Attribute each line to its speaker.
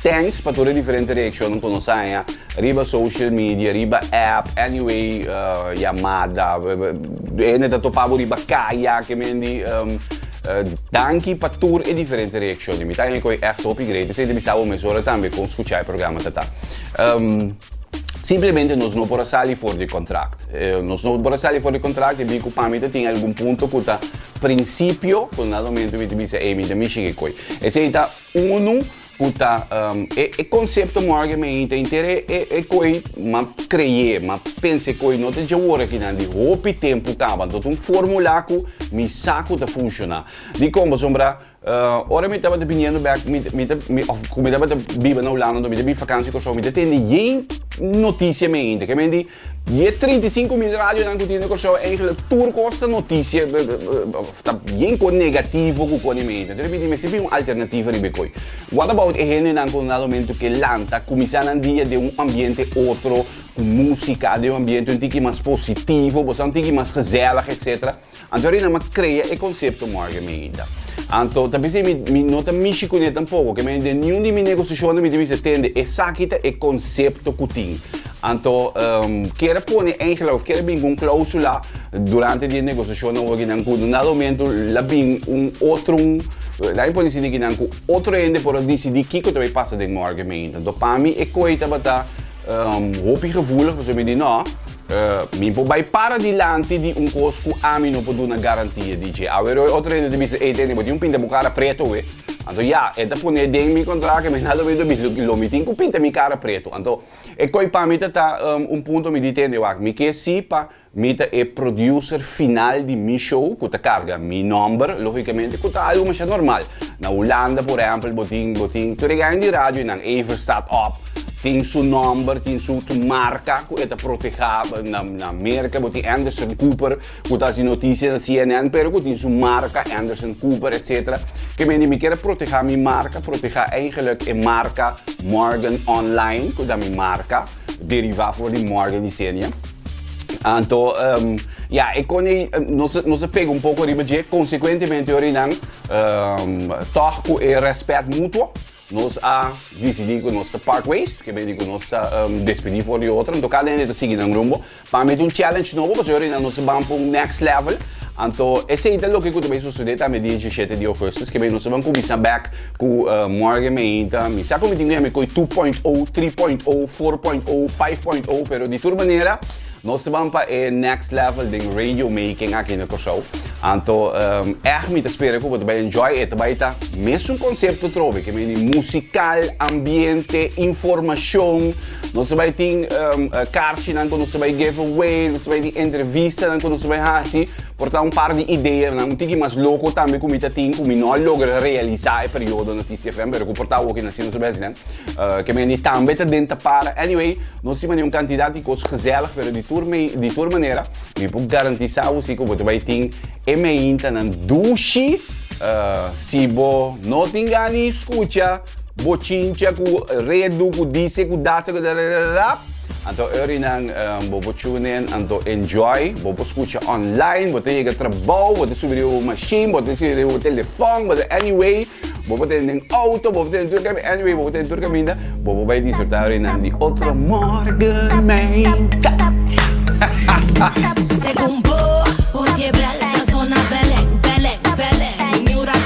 Speaker 1: Thanks pa tur e diferente reaccionnan cu nos haña riba social media, riba app, anyway yamada, hende ta topa bo riba caya, que men di. Danki pa tur e diferente reaccion mi ta haña cu e echt hopi great esey ta bisa bo mesora tambe con scucha e programa ta ta. Simplemente nos no por a sali for di contract, nos no por a sali for di contract e bin cu pami ta tin algun punto cu ta principio cu na ta momento mi ta bisa ey mi ta mishi kicoy esey ta. Unu cu ta e concepto morgue me inta inter e coe ma creye, ma pensa e coe no ta dje wor aki nan di hopi tempo caba. Anto ta un formula cu mi sa cu ta funciona. Dicon? Pasobra ora mi tabata biniendo bek, mi ta, of cu mi tabata biba na Hulanda, anto mi ta bin fakantie Curaçao, mi ta tende yen noticia me inta. Ke men di? Di e trinta i sinku mil radionan ku tin den Kòrsou, èntlik tur kosa notisie ta bien kon negativo ku pone mi. Entonces mi di mester bin un alternativo riba e koi. What about e hendenan ku dado momento ke lanta, kuminsá nan dia den un ambiente otro, ku músika, den un ambiente un tiki mas positivo, bo sa, un tiki mas gezèlig, etcétera. Anto Rinam a crea e concepto Margen Medida. Anto ta pensé mi, mi no ta mishi cune tampoco, que mi den niun di mi negociacionnan mi ta bisa tende esaki ta e concepto cu tin. Anto um, kere pone eigenlijk, of kere bin cu un clausula durante di e negociacionnan hoor kinan cu un dado momento la bin un otrun, laat mi pone así, di kinan cu otro hende por a decidi kico ta bay pasa den Margen Medida. Anto pa mi e koe tabata, Um hopi gevoelig, pasobra mi di, No, mi por bai para dilanti di un kos ku ami no por duna garantia di dje. Awe Roy otro hende ta bisa, Ey Denny, bo tin un pinta bo kara pretu, we? Anto ya, e ta pone den mi kontrakt ke mi na lo bido bis lo mi tin ku pinta mi kara pretu. Anto e koi pa mi ta ta un punto, mi di, Tende, wak, mi ke si pa. Mi ta e producer final di mi show cu ta carga mi nomber, logicamente cu ta algo masha normal. Na Hulanda, por ehempel, bo tin, bo tin tur e gaña di radio y nan Ever Staat Op tin su nomber, tin su, su marca cu e ta proteha. Na, na Merca bo tin Anderson Cooper cu ta haci noticia na CNN pero cu tin su marca Anderson Cooper, etc. Ke men di mi kier a proteha mi marca, proteha eigenlijk e marca Morgan Online cu ta mi marca. derivá for di morgue di Xenia. Anto, um, ja, ik kon niet, nos, nos pega un poco riba je, consecuentemente ori nan, um, toch ku e respect mutuo, nos a decidi ku nos te part ways, ke beni ku nos te um, despedi for di otro, anto cada ene te sigui nan rumbo, Pa mi ta un challenge nobo pasobra ahorita nos ta ban pa un next level. Anto esei ta loke ku ta bay sucede ta mi diecisiete di augustus ke bay nos ta ban cuminsa back cu morgen meinta. Mi sa cu mi tin cu yami coy two point o, three point o, four point o, five point o pero di tur manera nos ta ban pa e next level den radio making aki na Corsou. Anto echt mi ta spera cu bo ta bay enjoy. E ta bay ta mesun concepto trobe ke bay di musical, ambiente, informacion. Nos ta bai tin karchinan ku nos ta bai give away, nos ta bai tin entrevistanan ku nos ta bai hasi por ta un par di ideanan, un tiki mas loko tambe ku mi ta tin ku mi no a logra realisá e periodo na Kiss FM pero ku por ta awor kin asina nos a bai hasinan. Ke mende tambe ta den ta para. Anyway, nos stima di un kantidat di kos gezèlig pero di tur mei di tur manera mi por garantisá bo si ku bo ta bai tin e meintanan dushi si bo no tin gana di skucha. bochincha cu redu, cu dice, cu dace, cu dadadadadadap. Anto Eurinan, um, bobo tune in, anto enjoy, bobo escucha online, bote llega trabao, bote subi riba bo machine, bote subi riba bo telefoon, bote anyway, bobo ten den auto, bobo ten tur caminda, anyway, bobo ten tur caminda, bobo bay disfrutar Eurinan di otro morgen, mijn kat.
Speaker 2: Según bo, por quebrar la zona Belén, Belén, Belén.